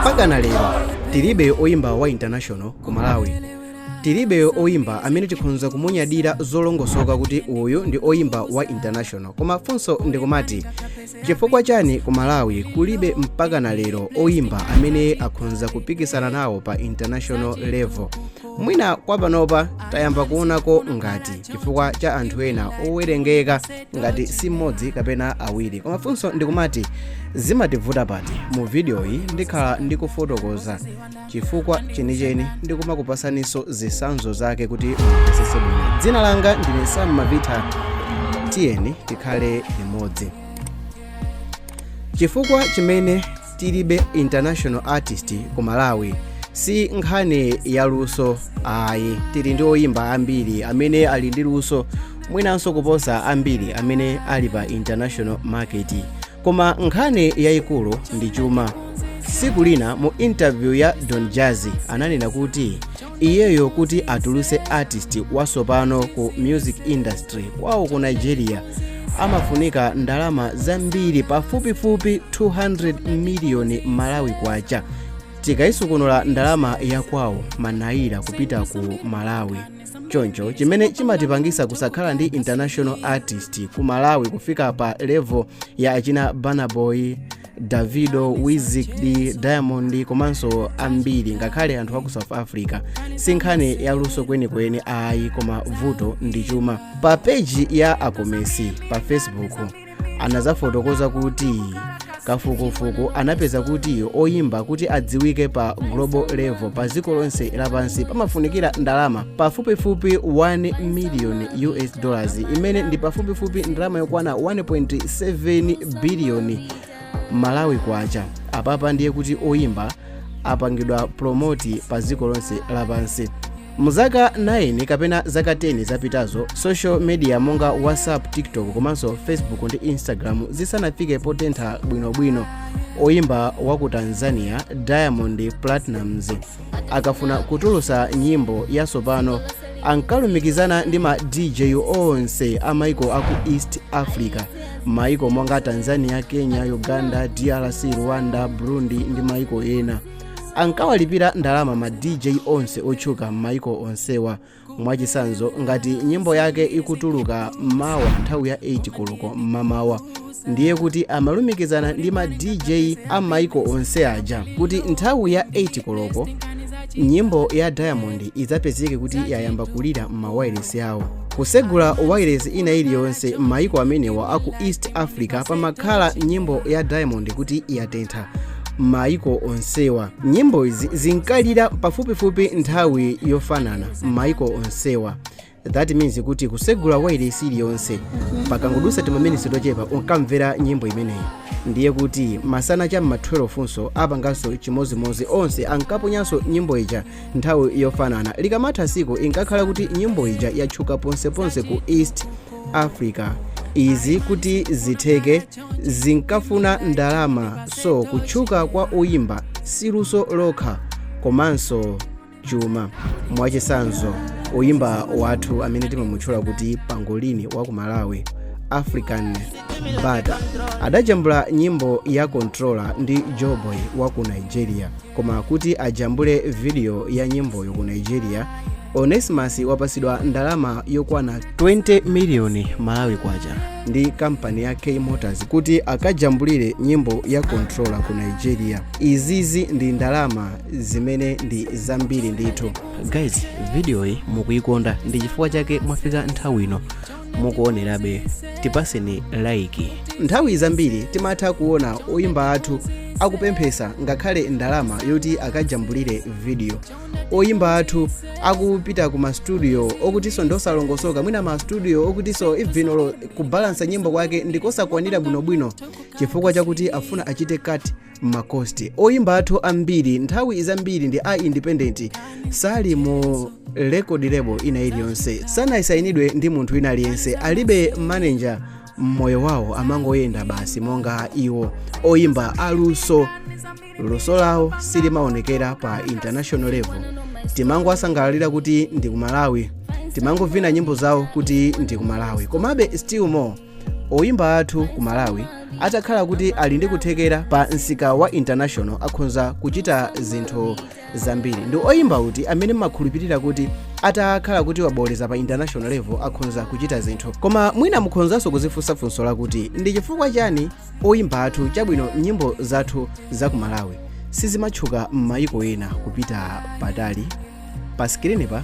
mpaka na lero tilibe oyimba wa international ku malawi tilibe oyimba amene tikhonza kumunyadira zolongosoka kuti uyu ndi oyimba wa international koma funso ndikumati chifukwa chani ku malawi kulibe mpaka na lero oyimba amene akhonza kupikisana nawo pa international level mwina kwa panopa tayamba kuonako ngati chifukwa cha anthu ena owerengeka ngati si mmodzi kapena awiri koma funso ndikumati zimativuta pati mu vidiyoyi ndikhala ndikufotokoza chifukwa chenicheni ndikumakupasaninso zitsanzo zake kuti mumvetsetse bwino dzina langa ndine sam mavita tiyeni tikhale limodzi chifukwa chimene tilibe international artist ku malawi si nkhani ya luso ayi tili ndi oyimba ambiri amene ali ndi luso mwinanso kuposa ambiri amene ali pa international market koma nkhani yayikulu ndi chuma tsiku lina mu interview ya don jazzy ananena kuti iyeyo kuti atuluse artist wasopano ku music industry kwawo ku nigeria amafunika ndalama zambiri pafupifupi 200 miliyoni malawi kwacha tikayisukunula ndalama yakwawo manaira kupita ku malawi choncho chimene chimatipangisa kusakhala ndi international artist ku malawi kufika pa level ya achina burna boy davido wizkid diamond komanso ambiri ngakhale anthu aku south africa si nkhani ya luso kwenikweni ayi koma vuto ndi chuma pa peji ya akomesi pa facebook anazafotokoza kuti kafukufuku anapeza kuti oyimba kuti adziwike pa global level pa dziko lonse lapansi pamafunikira ndalama pafupifupi 1 million us dollars imene ndi pafupifupi ndalama yokwana 1.7 biliyoni malawi kwacha apapa ndiye kuti oyimba apangidwa promote pa dziko lonse lapansi mu zaka 9 kapena zaka 10 zapitazo social media monga whatsapp tiktok komanso facebook ndi instagram zisanafike potentha bwinobwino oyimba wa ku tanzania diamond platnumz akafuna kutulusa nyimbo yasopano ankalumikizana ndi ma dj onse a maiko aku east africa maiko monga tanzania kenya uganda drc rwanda burundi ndi maiko ena ankawalipira ndalama ma dj onse otchuka m'maiko onsewa mwachisanzo ngati nyimbo yake ikutuluka mawa nthawi ya 8 koloko mmamawa ndiye kuti amalumikizana ndi ma dj a maiko onse aja kuti nthawi ya 8 koloko nyimbo ya diamond idzapezeke kuti yayamba kulira m'mawailesi awo kusegula wailesi ina iliyonse m'maiko amenewa aku east africa pamakhala nyimbo ya diamond kuti yatentha m'mayiko onsewa nyimbo izi zinkalira pafupifupi nthawi yofanana m'mayiko onsewa that means kuti kusegula wailesi iliyonse pakangodusa timaminisi tochepa unkamvera nyimbo imeneyi ndiye kuti masana cha m'ma 12 nso apanganso chimozimozi onse ankaponyanso nyimbo ija nthawi yofanana likamatha tsiku inkakhala kuti nyimbo ija yatchuka ponseponse ku east africa izi kuti zitheke zinkafuna ndalama so kutchuka kwa oyimba si luso lokha komanso chuma mwachisanzo oyimba wathu amene timamutchula kuti pangolini wa ku malawi african butter adajambula nyimbo ya controller ndi joeboy wa ku nigeria koma kuti ajambule vidiyo ya nyimboyo ku nigeria onesimus wapasidwa ndalama yokwana 20 miliyoni malawi kwacha ndi kampani ya k motors kuti akajambulire nyimbo ya controller ku nigeria izizi ndi ndalama zimene ndi zambiri ndithu guys vidiyoyi mukuikonda ndi chifukwa chake mwafika nthawi ino mukuonerabe tipaseni like nthawi zambiri timatha kuona oyimba athu akupemphesa ngakhale ndalama yoti akajambulire vidiyo oyimba athu akupita ku mastudio okutiso ndosalongosoka mwina mastudio okutiso even kubalansa nyimbo kwake ndikosakwanira bwinobwino chifukwa chakuti afuna achite cut ma cost oyimba athu ambiri nthawi zambiri ndi a independent sali mu record label ina iliyonse sanasayinidwe ndi munthu wina aliyense alibe manager mmoyo wawo amangoyenda basi monga iwo oyimba aluso luso lawo silimaonekera pa international level timangowasangalalira kuti ndi ku malawi timangovina nyimbo zawo kuti ndi ku malawi komabe still more oyimba athu ku malawi atakhala kuti ali ndi kuthekera pa msika wa international akhonza kuchita zinthu zambiri ndi oyimba uti amene mmakhulupirira kuti atakhala kuti wabooleza pa international level akhonza kuchita zinthu koma mwina mukhonzanso kuzifunsa funso lakuti ndi chifukwa chani oyimba athu chabwino nyimbo zathu za ku malawi sizimatchuka m'mayiko ena kupita patali pa skrini pa